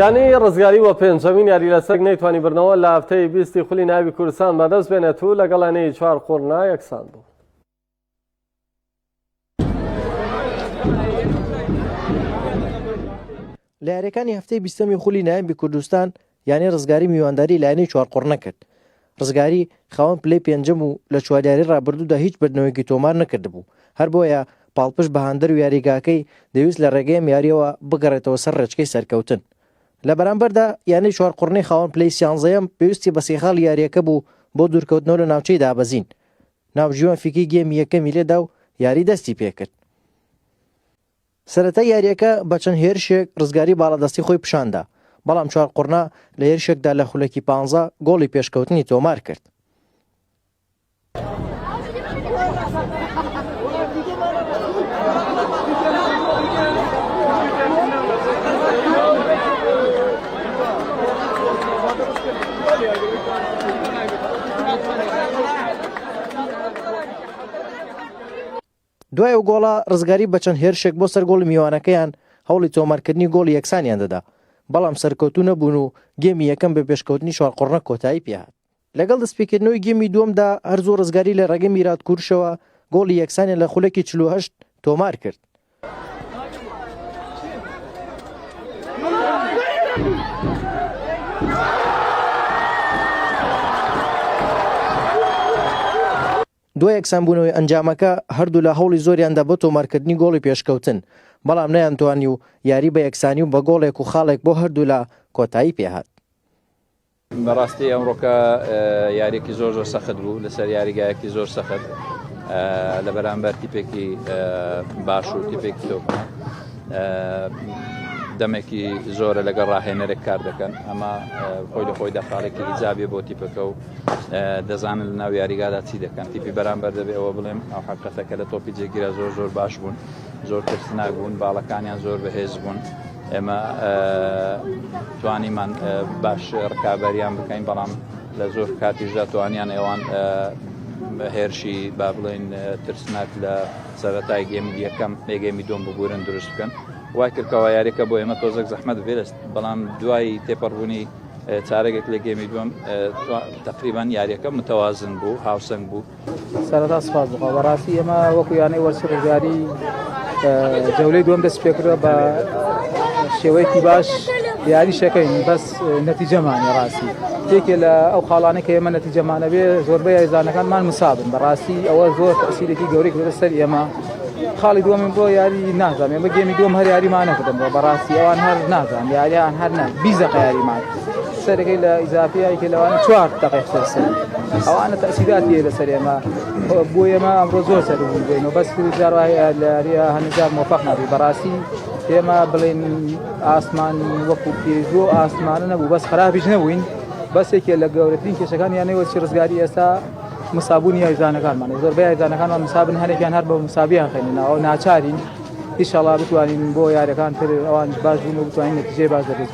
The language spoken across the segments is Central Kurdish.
یانەی ڕزگاری بۆ پێنجەمین یاری لەسەک نەیتوانی بردنەوە لە هەفتەی بیستی خولی ناوی کوردستان بەدەست بێنێت و لەگەڵ یانەی چوار قوڕنا یەکسان بوو. لە یاریەکانی هەفتەی بیستەمی خولی نایبی کوردستان یانەی ڕزگاری میوانداری لایەنەی چوار قوڕنە کرد ڕزگاری خاوەن پلەی پێنجەم و لە چواریاری ڕابردوودا هیچ بردنەوەیەکی تۆمار نەکردبوو، هەر بۆیە پاڵپشت بە هاندەر و یاریگاکەی دەویست لە ڕێگەی ئەم یارییەوە بگەڕێتەوە سەر ڕێچکەی سەرکەوتن. لە بەرامبەردا یانەی چوارقوڕنەی خاوەن پلەی سیانزەیەم پێویستی بە سێ خاڵی یارییەکە بوو بۆ دوورکەوتنەوە لە ناوچەی دابەزین، ناوجیوان فیکی گێمی یەکەمی لێدا و یاری دەستی پێکرد. سەرەتای یارییەکە بە چەند هێرشێک رزگاری باڵادەستی خۆی پیشاندا، بەڵام چوارقوڕنا لە هێرشێکدا لە خولەکی پانزە گۆڵی پێشکەوتنی تۆمارکرد. دوای ئەو گۆڵە، ڕزگاری بە چەند هێرشێک بۆ سەر گۆڵی میوانەکەیان هەوڵی تۆمارکردنی گۆڵی یەکسانیان دەدا، بەڵام سەرکەوتوو نەبوون و گێمی یەکەم بە پێشکەوتنی چوار قۆڕنەک کۆتایی پێهات. لەگەڵ دەستپێکردنەوەی گێمی دووەمدا، هەر زوو ڕزگاری لە ڕێگەی میرات کورشەوە گۆڵی یەکسانیان لە خولەکی چل و هەشت تۆمارکرد. دوای یەکسانبوونەوەی ئەنجامەکە، هەردوولا هەوڵی زۆریاندا بۆ تۆمارکردنی گۆڵی پێشکەوتن، بەڵام نەیانتوانی و یاری بە یەکسانی و بە گۆڵێک و خاڵێک بۆ هەردوولا کۆتایی پێهات. بەڕاستی ئەمڕۆکە یاریەکی زۆر زۆر سەخت بوو لەسەر یاریگایەکی زۆر سەخت لە بەرامبەر تیپێکی باش و تیپێکی تۆپ دەمێکی زۆرە لەگەڵ ڕاهێنەرێک کار دەکەن ئەمە خۆی لە خۆی دەخاڵێکی ئیجابێ بۆ تیپەکە و دەزانن لە ناو یاریگادا چی دەکەن تیپی بەرامبەر دەبێ ئەوە بڵێم ئەو حقەتە کە لە تۆپی جێگیرا زۆر زۆر باش بوون زۆر ترسناک بوون باڵەکانیان زۆر بەهێز بوون ئێمە توانیمان باش ڕکابەریان بکەین بەڵام لە زۆر کاتیشدا توانیان ئێوان هێرشی با بڵێن ترسناک لە سەرەتای گەمی یەکەم بێگەمی دۆم ببورن دروست بکەن وای کردکەوە یاریەکە بۆ ئێمە تۆزەک زەحمەت بێت بەڵام دوای تێپەڕبوونی چارەگێک لە گێمی دوم تقریبان یاریەکە متەوازن بوو هاوسنگ بوو سەردا سپاس بخوا بەڕاستی ئێمە وەکو یانەی وەرچ ڕزگاری جەولەی دوم دەست پێکرە بە شێوەیەکی باش یاری شەکەین بەس نەتیجەمانی ڕاستی یەکێ لە ئەو خاڵانە کە ئێمە نەتیجەمانەوێ زۆربەی یاریزانەکانمان مسابن بەڕاستی ئەوە زۆر تەسیرێکی گەورەی لەسەر ئێمە خاڵی دووەمم بۆ یاری نازانێ بە گەمی دوم هەر یاریمان نەکردم بۆ بەڕاستی ئەوان هەر نازان یاریان هەر نە بیزەقە یاریمان سەرەکەی لە ئیزافیایکە لەوانە چوار دقی خۆسەر ئەوانە تەسیدات لێ لەسەر ئێمە بۆ ئێمە ئەمڕۆ زۆر سەر بووین و بەس جاڕایە لە یاریە هەنجار مۆفق نابی بەڕاستی ئێمە بڵێن ئاسمان وەکو پێزۆ ئاسمانە نەبوو بەس خراپیش نەبووین بەسێکێ لە گەورەترین کێشەکان یانەوە چی ڕزگاری ئێستا مسابوونی یاریزانەکانمانە زۆربەی یاریزانەکانمان مسابن هەنێکیان هەر بە مسابیان خێنناوە ناچارین ئیشەڵا بتوانین بۆ یاریەکان تر ئەوانش باش بوون و بتوانین نەتیجەی باش دەبێت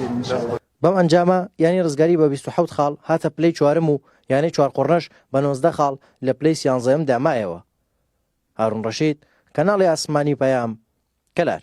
بەم ئەنجامە یانەی ڕزگاری بە بیست و حەوت خاڵ هاتە پلەی چوارەم و یانەی چوارقوڕنەش بە نۆزدە خاڵ لە پلەی سیانزەیەمدا مایەوە هارون ڕەشید، کەناڵی ئاسمانی پەیام، کەلار.